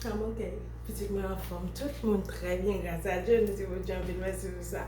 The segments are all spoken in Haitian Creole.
Kòman ke pitit mwen anfòm? Tout moun trè byen gras a Dye, mesi Bondye anpil mèsi pou sa.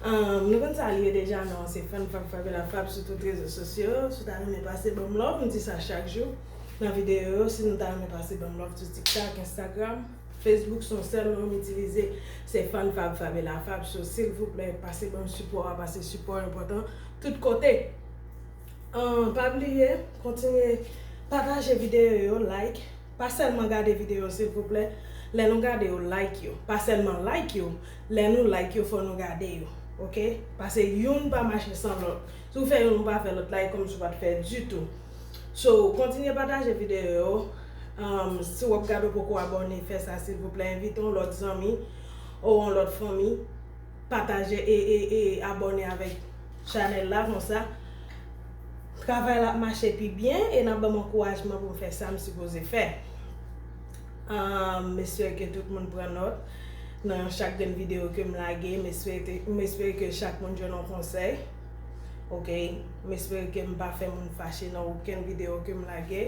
Nou konn sa li ye deja non, se fèm fab fabe la fab sou tout rezo sosyo, si w ta renmen pase banm love, m di sa chak jou nan videyo yo, si nou ta renmen pase banm love sou tiktak, enstagram, facebook son sèl non m itilize se fèm fab fabe la fab, so silvouplè pase banm sipò a, pase sipò a enpòtan tout kote. Pa bliye kontinye pataje videyo yo like pa sèlman gade videyo yo silvouplè lè nou gade yo like yo pa sèlman like yo lè nou like yo fò nou gade yo ok pase youn pa mache san lòt si w fè youn ou pa fè lòt la e kòmsi w pat fè ditou so kontinye pataje videyo yo si wap gade ou poko abòne fè sa silvouplè envite yon lòt zanmi ou yon lòt fanmi. Pataje e e e abòne avèk chanèl la konsa travay la ap mache pi byen e nap banm ankourajman poum fè sam sipoze fè m espere ke tout moun pran nòt nan chak grenn video kem lage m espere m espere ke chak moun jwenn yon konsèy ok m espere ke m pa fè moun fache nan okenn video kem lage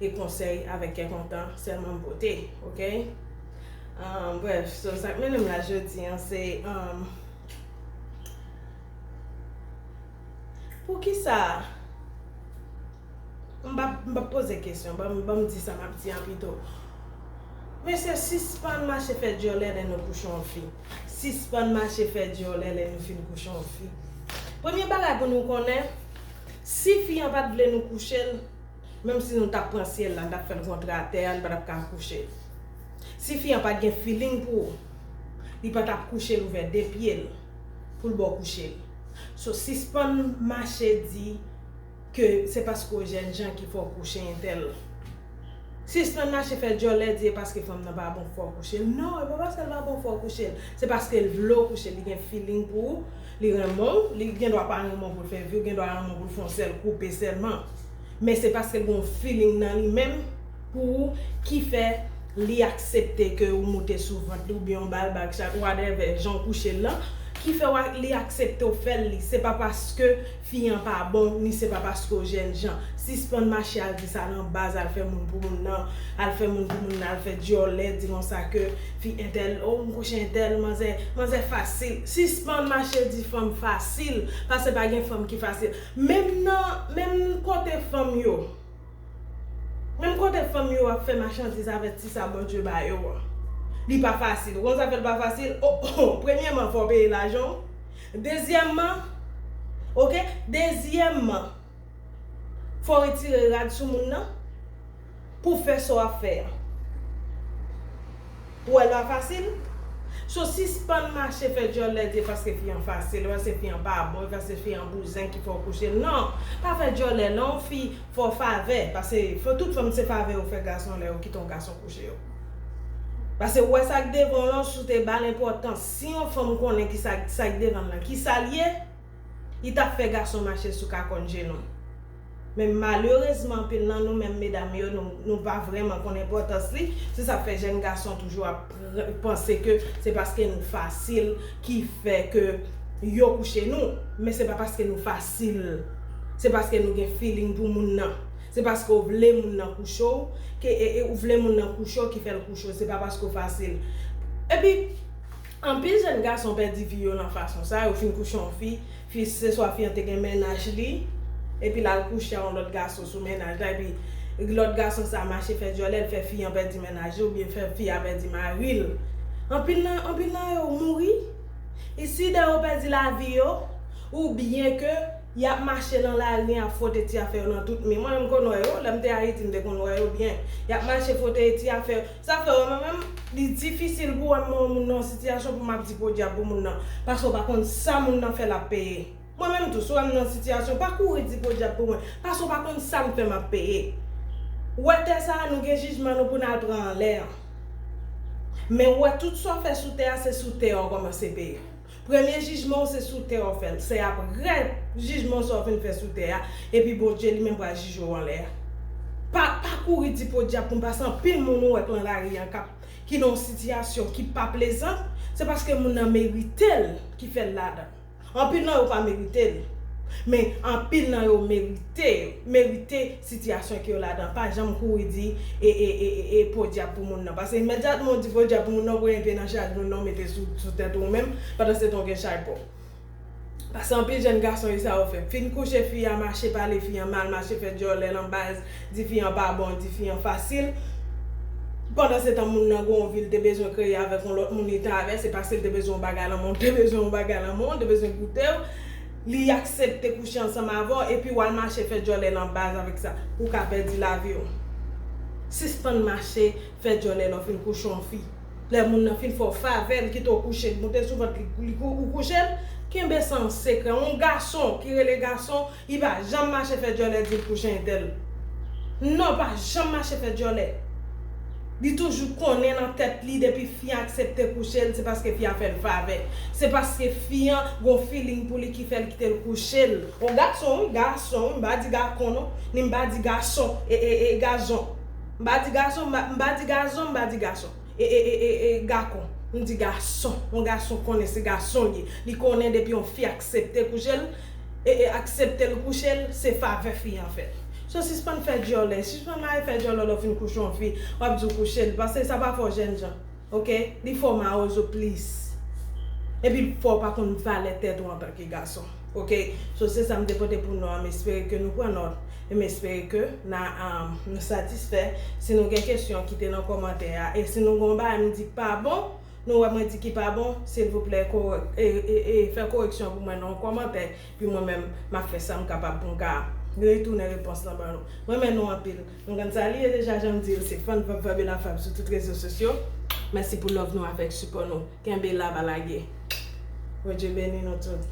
e konsèy avèk kè kontan sèlman m pote ok. Brèf, so sa k mennen m la jodi an se, poukisa, m pa ap poze kesyon, ban m di sa m ap di an pito. Mesye sispann mache fè dyòlè lè nou kouche yon fi. Sispann mache fè dyòlè lè nou fin kouche yon fi. Premye bagay pou nou konnen, si fi an pa t vle nou kouche l. Menm si nou tap pran syèl la, n tap fè l kontre atè a, li pa tap ka kouche l. Si fi an pat gen feeling pou ou, li pa tap kouche l ouvè 2 pye l pou l ba w kouche l. So sispann mache di ke se paske w jènjan ki fè w kouche entèl. Sispann mache fè djòlè di e paske fanm nan pa bon k fè w kouche l. Non, e pa paske l pa bon fè w kouche l. Se paske l vle w kouche l, li gen feeling pou ou. Li renmen w, li gen dwa pa renmen w pou l fè vi w, gen dwa renmen w pou l fè yon sèl koupe sèlman. Men se paske l gen yon feeling nan li menm pou ou ki fè li aksepte ke ou moute sou vant li oubyen ou ba l bag chak whatever jan w kouche l lan ki fè w li aksepte w fè l li. Se pa paske fi an pa bon ni se pa paske w jènjan. Sispann mache al di sa nan baz al fè moun pou moun nan al fè moun pou moun nan al fè dyòlè di konsa ke Fi entèl oh m kouche entèl manzè manzè fasil sispann mache di fanm fasil pase pa gen fanm ki fasil menm nan menm kote fanm yo menm kote fanm yo ap fè machandiz avèk ti sa Bondye ba yo an li pa fasil ou konn sa fè l pa fasil oo premyèman fò w peye lajan w dezyèmman ok dezyèmman fò w retire rad sou moun nan. pou fè sa w ap fè a. Ou wè l pa fasil? So sispann mache fè dyòl lè di paske fi an fasil, paske fi an pa bon, paske fi an bouzen ki fè w kouche l. Non! Pa fè dyòlè non fi, fè w favè, pase tout fanm se favè yo fè gason lè yo kite yon gason kouche yo. Pase ou wè sa k devan w lan, si w te ba l enpòtans, si yon fanm konnen ki sa k devan l lan ki sa l ye, Li tap fè gason mache sou kakòn je nou. Men malerezman anpil nan nou menm medam yo nou pa vrèman konn enpòtans li, se sa k fè jèn gason toujou ap panse ke se paske nou fasil ki fè ke yo kouche nou, men se pa paske nou fasil se paske nou gen feeling pou moun nan, se paske w vle moun nan kouche w ke ou vle moun nan kouche w ki fè l kouche w se pa paske w fasil. Epi. Anpil jèn gason pèdi vi yo lan fason sa, yo fin kouche yon fi, fi se swa fi an te gen mennaj li, epi lal kouche a yon lòt gason sou mennaj la epi lòt gason sa mache fè dyòlè l fè fi an pèdi mennaj li oubyen fè fi a pèdi mari l. Anpil nan anpil nan yo mouri isi dan yo pèdi lavi yo oubyen ke yap mache lan lari yap fwote ti afè yo lan tout mi. Mwen menm m konn wè yo, lèm te Ayiti m te konn wè yo byen. Yap mache fwote ti afè yo. Sa fre wi mwen menm li difisil pou wèm wè yon moun nan yon sitiyasyon pou map di podyab pou moun nan paske ou pa konn sa moun nan fè lap peye mwen menm tou si wèm nan yon sitiyasyon pa kouri di podyab pou mwen paske ou pa konn sam fè map peye wè tè sa nou gen jijman nou pou nal pran anlè an men ou wè tout sa ou fè sou tè a se sou tè a ou kòmanse peye. Premye jijman w se sou tè w fè l, se aprè jijman sa w fin fè sou tè a epi Bondye li menm pral jije w anlè a. Pa pa kouri di podyab pou m pase anpil moun ou wè k lan lari an kap ki nan yon sitiyasyon ki pa plezan, se paske moun nan merite l ki fè l ladan. Anpil nan yo pa merite l, men anpil nan yo merite yo merite. sitiyasyon ke yo ladan pa janm kouri di e podyab pou moun nan pase imedyatman ou di podyab pou moun nan ou voye enpe nan chay moun nan ou mete sou tèt ou menm pandansetan ou gen chay paw pase anpil jèn gason esa yo fè fin kouche fi a mache pale fi an mal mache fè dyòlè lan baz di fi an pa bon di fi an fasil pandansetan moun nan gonw vi li te bezwen kreye avèk yon lòt moun li ta avè se paske li te bezwen yon bagay lan menw te bezwen yon bagay lan menw li te bezwen goutew. li aksepte kouche ansanm avè w epi wal mache fè djòlè nan baz avèk sa ou ka pèdi lavi w sispann mache fè djòlè lè w fin kouche yon fi lè moun nan fin fè w favè li kite w kouche li moute sou vant li ou kouche l kenbe sa an sekrè yon gason ki rele gason li pa janm mache fè djòlè di l kouche entèl non pa janm mache fè djòlè. Li toujou konnen nan tèt li depi fi an aksepte kouche l se paske fi a fè l favè. Se paske fi an gon feeling pou li ki fè l kite l kouche l. On gason wi, gason wi, m pa di gacon non, ni m pa di gason, e e e gazon. M pa di gason, m pa, m pa di gazon, m pa di gason, e e e e gacon. M di gason. On gason konnen se gason l ye. Li konnen depi on fi aksepte kouche l, ee akseptel kouchel se favè fi an fèl so sispann fè dyòlè sispann mare fè dyòlò lèw fin kouche yon fi wap diw kouchel pase sa pa fò jènjan ok li fò mawozo plis epi fòw pa konn valè tèt ou antanke gason ok so se sam te pote pou nou an m espere ke nou pran nòt em espere ke na satisfè si nou gen kesyon kite nan kòmantè a e si nou gen yon bagay nou di ki pa bon. Nou wè mwen di ki pa bon, silvouplè fè koreksyon an pou mwen nan yon kòmantè, pi mwen menm m ap fè sa m kapab pou m ka retounen repons lan ban nou. M renmen nou anpil. Nou konn sa li ye deja jan m di l se Fann Vab Vab e La Fab sou tout rezo sosyo. Mèsi pou love nou avèk sipò nou. Kenbe la pa lage. Bondye beni nou tout.